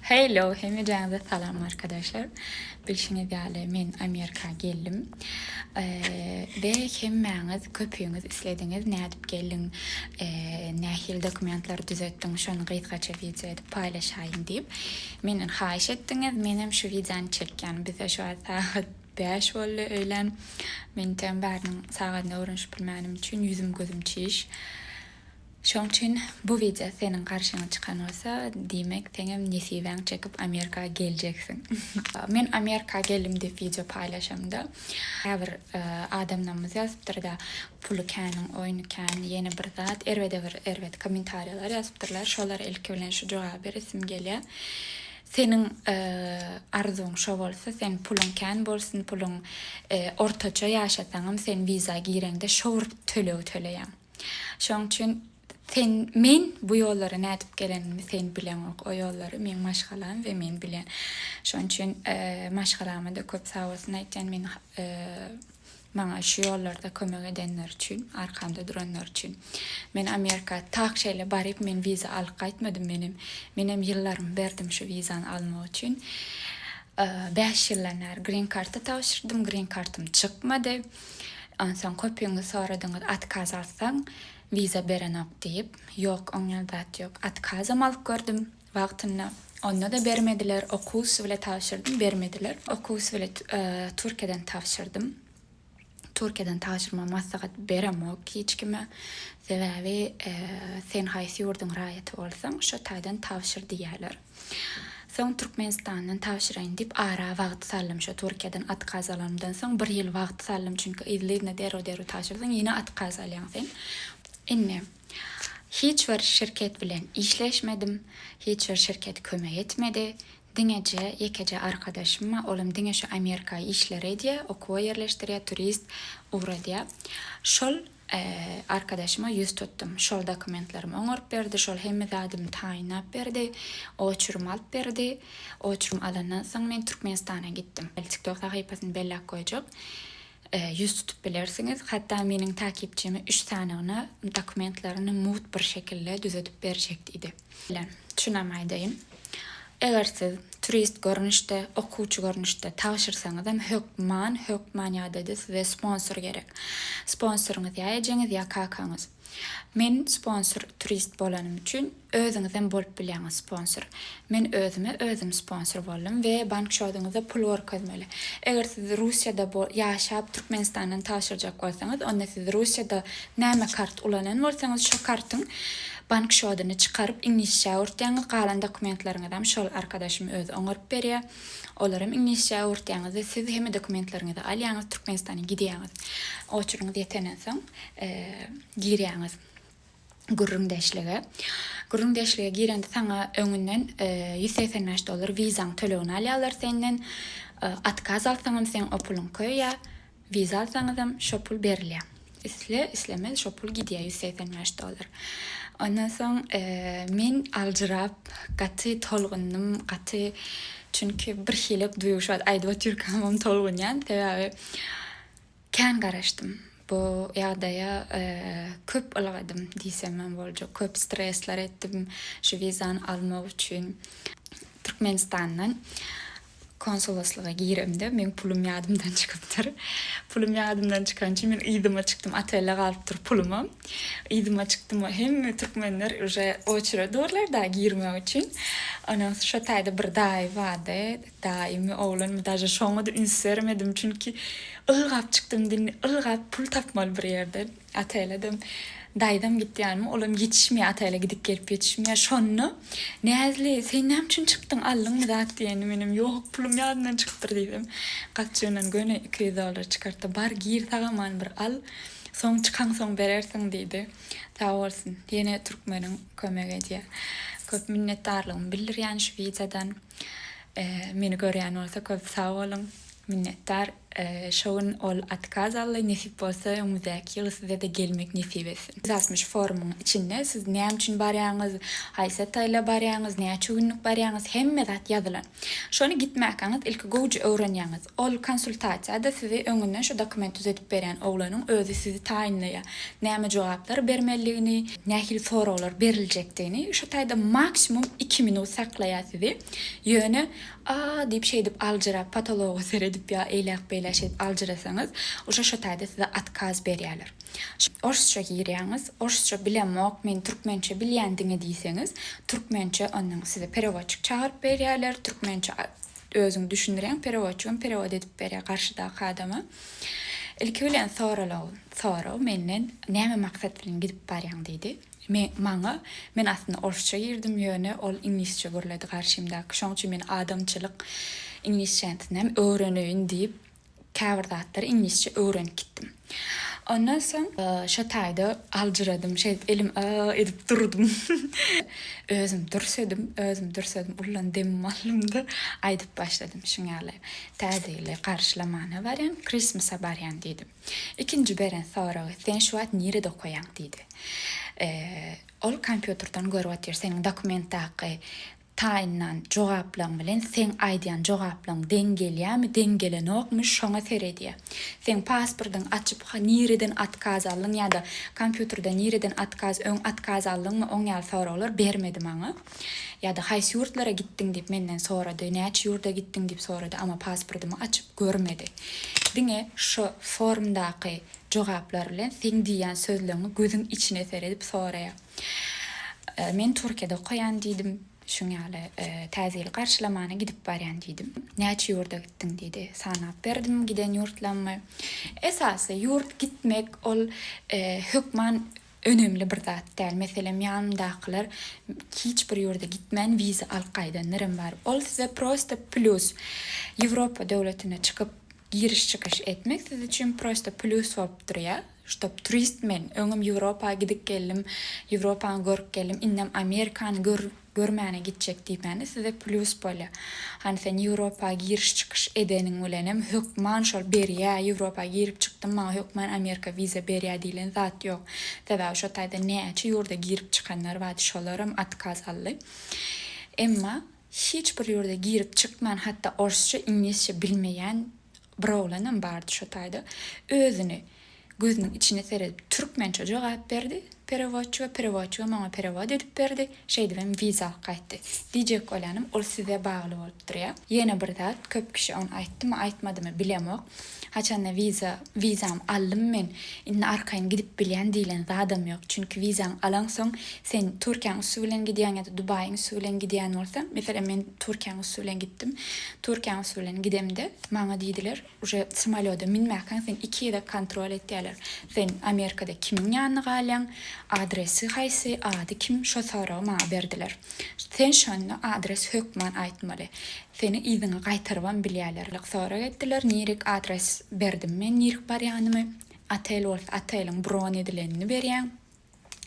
Hello hemejäňize salam arkadeşler. Bilşiňiz ýaly men Amerika geldim. Be hemmäňiz köpüňiz islediňiz nädip geldiň, nähili dokumentleri düzetdiň şony gysgaça wideo edip paýlaşaýyň diýip menden haýyş etdiňiz. Menem şu wideony çekýän. Bizde şu wagt sagat bäş boldy öýlän. Men tem bäriniň sagadyna öwrenişip bilmänim üçin ýüzüm gözüm çiş. Şoň üçin bu wideo seniň garşyňa çykan bolsa, diýmek seňem nesibäň çekip Amerika geljeksiň. Men Amerika geldim diýip wideo paýlaşamda, käbir adamlarymyz ýazypdyrda, puly käniň, oýny kän, ýene bir zat, erbede bir erbet kommentariýalar ýazypdyrlar, şolara ilki bilen şu jogaby beresim gelýär. Seniň arzuwyň şo bolsa, seň puluň kän bolsun, puluň ortaça ýaşasaňam sen wiza gireňde şo bir tölegi töleýäň. Şoň üçin sen, men bu ýollara nädip gelenimi sen bileňok. O ýollary meň maşgalam we men bilýän. Şoň üçin maşgalama-da köp sag bolsun aýtýan, meni maňa şu ýollarda kömek edenleri üçin, arkamda duranlary üçin. Men Amerika tak şeýle baryp, men wiza alyp gaýtmadym, menem, menem ýyllarymy berdim şu wizany almak üçin. Bäş ýyldan bäri grin karta tabşyrdym, grin kartam çykmady. Onsoň köpüňiz soradyňyz, Otkaz alsaň, wiza berenok diýip. Ýok, oňýan zat ýok. Otkazam alyp gördüm wagtynda. Onda-da bermediler. Okuw üsti bilet tabşyrdym, bermediler. Okuw üsti bilet Türkiýeden tabşyrdym. Türkiýeden tabşyrmagy maslahat beremok hiç kime. Sebäbi sen haýsy ýurduň raýaty bolsaň, şo taýdan tabşyr diýýärler. Soň Türkmenistandan tabşyraýyn diýip ara wagt saldym şo Türkiýeden atkaz alanymdan soň bir ýyl wagt saldym çünki yzly yzyna derrew derrew tabşyrsaň ýene atkaz alýaň sen indi hiç bir şirket bilen işleşmedim hiç bir şirket kömek etmedi diňeje ýekeje arkadaşym bar olam diňe şu Amerika işleri edýär okuwa ýerleşdirýär turist ugradýar şol Arkadaşyma ýüz tutdum. Şol dokumentlerimi oňaryp berdi, şol hemme zadymy taýynlap berdi, oçurum alyp berdi. Oçurum alandan soň men Türkmenistana gitdim. Tiktok sahypasyny belläp goýjak. Ýüz tutup bilersiňiz. Hatda meniň takipçimi üç sanygyna dokumentlerini mugt bir şekilde düzedip berjek diýdi. Şeýle, şunam aýdaýyn. Eger siz turist görnüşde, okuwçy görnüşde tabşyrsaňyzam, hökman, hökman ýa-da-da size sponsor gerek. Sponsoryňyz ýa ejeňiz, ýa kakaňyz. Men sponsor turist bolanym üçin, özüňizem bolup bilýäňiz sponsor. Men özüme özüm sponsor boldum we bank şoduňyzda pul görkezmeli. Eger siz Russiýada ýaşap, Türkmenistandan tabşyrjak bolsaňyz, onda siz Russiýada näme kart ulanan bolsaňyz, şo kartyň Bank şodyny çykaryp iňlisçä öwürtýäňiz galan dokumentleriňizem şol arkadaşym özi oňaryp berýä. Olarem iňlisçä öwürtýäňizde siz hemme dokumentleriňizi alýaňyz Türkmenistana gidýäňiz. Oçuryňyz ýetenden soň girýäňiz gürrüňdeşlige. Gürrüňdeşlige girende saňa öňünden ýüz segsen bäş dollar wizaň tölegini alýarlar senden. Otkaz alsaňam seň o pulyň köýýä. Wiza alsaňyzam şo pul berilýä. Isle, islemez şo pul gidýä ýüz segsen bäş dollar. Ondan soň men aljyrap gaty tolgundym, gaty çünki bir hili duýgy şu wagt aýdyp otyrkamam tolgunýan sebäbi kän garaşdym bu ýagdaýa köp ylgadym diýsemem boljak köp stresler etdim şu wizany almak üçin Türkmenistandan Konsuloslyga giremde meň pulum ýadymdan çykypdyr. Pulum ýadymdan çykany üçin men yzyma çykdym. Otelde galypdyr pulumam. Yzyma çykdym. Hemme türkmenler uje oçere durlar dagy girmek üçin. Ondan soň şo taýda bir daýy bardy. Daýymy, oglanmy daže şoňa-da üns bermedim. Çünki ylgap çykdym, ylgap pul tapmaly bir ýerden. Ataýladam, daýzam gitýärmi, olam ýetişmeýär, Ataýla gidip-gelip ýetişmeýär. Şonda, Näzli, sen näme üçin çykdyň, aldyňmy zat diýende, menem, Ýok, pulum ýadymdan çykypdyr diýdim. Gapjygyndan göni iki ýüz dollar çykartdy. Bar, gir, sag-aman bir al, soň çykaňsoň berersiň diýdi. Sag bolsun, ýene türkmeniň kömek edýär. Köp minnetdarlygymy bildirýän şu wideodan. Meni görýän bolsa köp sag boluň. Minnetdar. Şo gün ol otkaz aldy, nesip bolsa öňümizdäki ýyl size-de gelmek nesip etsin. Ýüz altmyş forumyň içinde siz näme üçin barýaňyz, haýsy taýla barýaňyz, näçe günlük barýaňyz hemme zat ýazylan. Şony gitmäkäňiz ilki gowja öwrenýäňiz. Ol konsultasiýada sizi öňünden şu dokument düzedip berýän oglanyň özi sizi taýynlaýar. Näme jogaplar bermelidigini, nähili soraglar beriljekdigini, şu taýda maksimum iki minut saklaýar sizi. Ýöne A! diýip şeýdip aljyrap potologa seredip ýa eýläk-beýläk şeýdip aljyrasaňyz, uje şo taýda size otkaz berýärler. Orsça girýäňiz, orsça bilemok, men türkmençe bilýän diňe diýseňiz, türkmençe onnoň size perewodçik çagyryp berýärler, türkmençe özüň düşündirýäň, perewodçigem perewod edip berýär garşydaky adama. Ilki bilen soralaw soraw menden, näme maksat bilen gidip barýaň diýdi. Men, maňa, men aslynda orsça girdim, ýöne ol iňlisçe gürledi garşymdaky, şoň üçin men adamçylyk iňlisçänsinem öwreneýin diýip, käbir zatlary iňlisçe öwrenip gitdim. Ondan soň. Şo taýda aljyradym, şeýdip elim a-a edip durdum. Özüm dürsedim, özüm dürsedim, ullan demim aldym-da, aýdyp başladym, şuňaly, Täze ýyly garşylamana barýan, Christmas-a barýan diýdim. Ikinji beren soragy, Sen şu wagt nirede okaýaň? diýdi. Ol kompýuterden görüp otyr. Seniň dokumentdaky taýynlan jogaplaryň bilen seň aýdýan jogaplaryň deň gelýärmi, deň gelenokmy, şoňa seredýär. Seň pasportyňy açyp, nireden otkaz aldyň ýa-da kompýuterde nireden otkaz, öň otkaz aldyňmy, oň ýaly soraglar bermedi maňa. Ýa-da haýsy ýurtlara gitdiň diýip menden sorady, näçe ýurda gitdiň diýip sorady, amma pasportymy açyp görmedi. Diňe şo formdaky jogaplar bilen seň diýýän sözleňi gözüň içine seredip soraýar. Men Türkiýede okaýan diýdim, şuň ýaly Täze ýyly garşylamana gidip barýan diýdim. Näçe ýurda gitdiň diýdi. Sanap berdim giden ýurtlarymy. Esasy ýurt gitmek ol hökman Önemli bir zat däl. Meselem ýanymdakylar hiç bir ýurda gitmän wiza alyp gaýdanlarym bar. Ol size prosta plýus. Ýewropa döwletine çykyp giriş-çykyş etmek siz üçin prosta plýus bolup durýar. Ştop turist men. Öňem Ýewropa gidip geldim. Ýewropany görüp geldim. Indem Amerikany gör. Görmäne gitjek diýmäne size plýus bolýa. Hany sen Ýewropa giriş-çykyş edeniň bilenem hökman şol berýä, Ýewropa girip çykdym maňa hökman Amerika wiza berýä diýlen zat ýok. Sebäbi şo taýda näçe ýurda girip çykanlar bardy şolaram otkaz aldy. Emma hiç bir ýurda girip çykman hatda orsça, iňlisçe bilmeýän bir oglanam bardy şo taýda özüni Gözüniň içine seredip türkmençe jogap berdi perewodçy we perewodçy hem oňa perewod edip berdi, şeýdibem wiza alyp gaýtdy. Diýjek bolýanym ol size bagly bolup durýar. Ýene bir zat, köp kişi ony aýtdymy aýtmadymy bilemok, haçanda wiza, wizamy aldym men, indi arkaýyn gidip bilýän diýlen zadam ýok. Çünki wizaňy alaňsoň sen Türkiýäň üsti bilen gidýäň ýa-da Dubaýyň üsti bilen gidýän bolsaň, meselem men Türkiýäň üsti bilen gitdim, Türkiýäň üsti bilen gidemde maňa diýdiler, Uje samolýoda münmäkäň seni iki gezek kontrol etýäler. Sen Amerikada kimiň ýanyna galýaň, adresi haýsy, ady kim şo soragy maňa berdiler. Sen şonda adres hökman aýtmaly. Seni yzyňa gaýtarybam bilýäler. Sorag etdiler, nirek adres berdim men nirek barýanymy. Otel bolsa oteliň bron edilenini berýäň.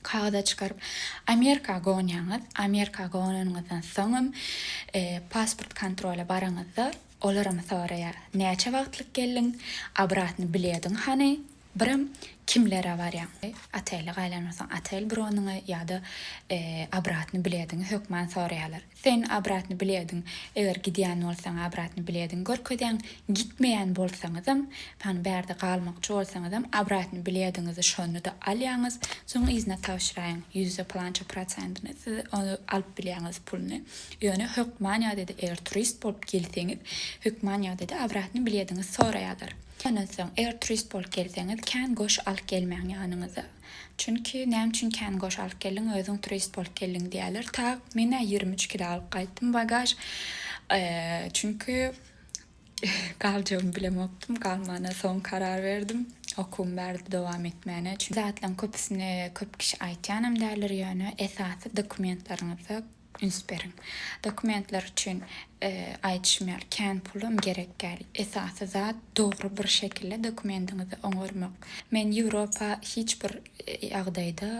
kagyza çykaryp Amerika gonýaňyz, Amerika gonanyňyzdan soňam pasport kontrola baraňyzda olaram soraýar, näçe wagtlyk geldiň, obratny bilediň hany, birem kimlere barýaň, otelde gaýlansoň otel bronyňy ýa-da obratny bilediňi hökman soraýarlar. Sen obratny bilediň eger gidýän bolsaň obratny bilediň görkezýäň gitmeýän bolsaňyzam pan bärde galmakçy bolsaňyzam obratny bilediňizi şonyda alýaňyz soň yzyna tabşyraýyň ýüzde plança proçentyny siz ony alyp bilýäňiz puluny ýöne hökman ýagdaýda eger turist bolup gelseňiz hökman ýagdaýda obratny bilediňiz soraýalar ondan soň eger turist bolup gelseňiz kän goş alyp gelmäň ýanyňyza. Çünki näme üçin kän goş alyp geldiň, özüň turist bolup geldiň diýerler. Tak, men-ä ýigrimi üç kilo alyp gaýtdym bagaž. Çünki galjagymy bilemokdym, galmana soň karar berdim. Okuwymy bärde dowam etmäne. Çünki zatlaryň köpüsini köp kişi aýtýanam däldir, ýöne esasy dokumentlaryňyzda Üns beriň. Dokumentler üçin aýdyşym ýaly kän pulum gerek däl. Esasy zat dogry bir şekilde dokumentiňizi oňarmak. Men Ýewropa hiç bir ýagdaýda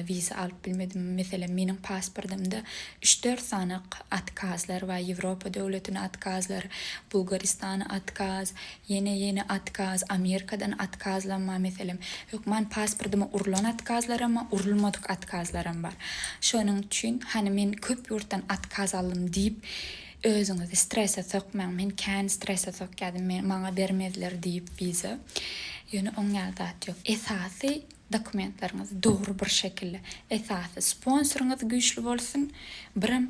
wiza alyp bilmedim. Meselem meniň pasportymda üç dört sany atkazlar bar. Ýewropa döwletine atkazlar, Bulgaristana atkaz, Ýene ýene otkaz, Amerikadan otkazlamma meselem. Hökman pasportyma urlan otkazlaramma, urulmadyk otkazlaram bar. Şonuň üçin hany men köp ýurtdan otkaz aldym diýip özüňizi strese sokmaň. Men kän strese sokýardym, men maňa bermezler diýip wiza. Ýöne oň ýaly zat ýok. Esasy dokumentleriňiz dogry bir şekilde. Esasy sponsoryňyz güýçli bolsun. Birem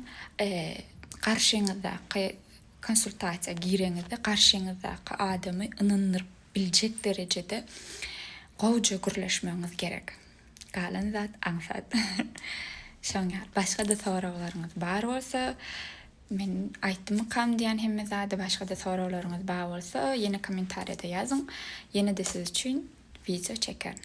garşyňyzdaky Konsultasiýa gireňizde garşyňyzdaky adamy ynandyryp biljek derejede gowja gürleşmegiňiz gerek. Galan zat aňsat. Şoň ýaly. Başga-da soraglaryňyz bar bolsa, men aýtdymykam diýýän hemme zady, başga-da soraglaryňyz bar bolsa, ýene kommentariýada ýazyň, ýene-de siz üçin wideo çekerin.